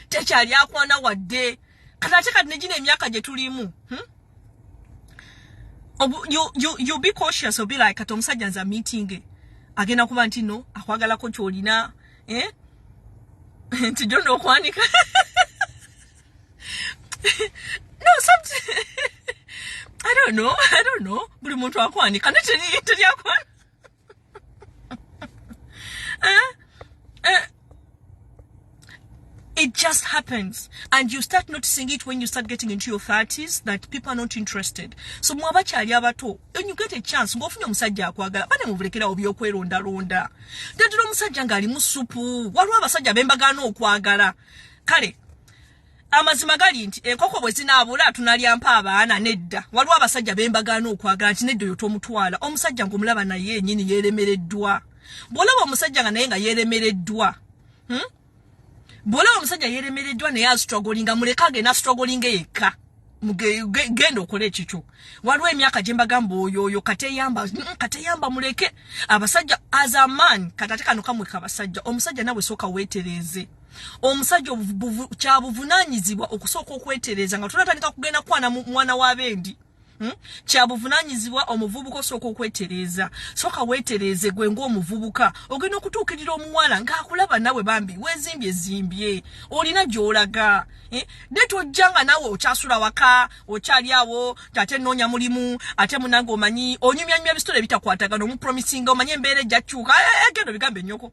tekyali akwana wadde kati ate kati negina emyaka gye tulimu hmm? you, you, you be cautious obi like kati omusajja nza meeting agenda kuba nti no akwagalako kyolina eh? nti jona okwanika no something I don't know. I don't know. Buli muntu akwanika. Nitini, nitini akwanika. eh? Eh? It just happens. And you start noticing it when you start getting into your 30s that people are not interested. So mwaba chali abato. When you get a chance, ngo funya musajja akwagala. Bane muvulekera obyo kweronda ronda. Dadiro musajja ngali musupu. Waru abasajja bemba gano okwagala. Kale, amazima gali nti enkoko bwe zinaabula tunalyampa abaana nedda waliwo abasajja be mbagaana okwagala nti nedda oyo tomutwala omusajja ng'omulaba naye enyini yeeremereddwa bw'olaba omusajja nga naye nga yeeremereddwa hmm? bw'olaba omusajja yeeremereddwa naye astrogolinga muleke agenda astrogolinga yekka genda okole ekikyo waliwo emyaka gyembagamba oyo oyo kateyamba mm, kateyamba muleke abasajja as a man katate kano kamwe kabasajja omusajja nawe sooka weetereeze omusajja kyabuvunanyizibwa okusooka okwetereeza nga tonatandika kugenda kwana mwana wa bendi Hmm? kyabuvunanyizibwa omuvubuka osooka okwetereeza sooka weetereeze gwe ngaomuvubuka ogenda okutuukirira omuwala ng'akulaba nawe bambi wezimbye zimbye olina gy'olaga eh? ne tojja nga nawe okyasula waka okyali awo tate noonya mulimu ate munange omanyi onyumyanyumya ebisitole ebitakwatagana omupromisinga omanyi embeera ejja kukyuka eh, eh, eh, gendo bigambe nyoko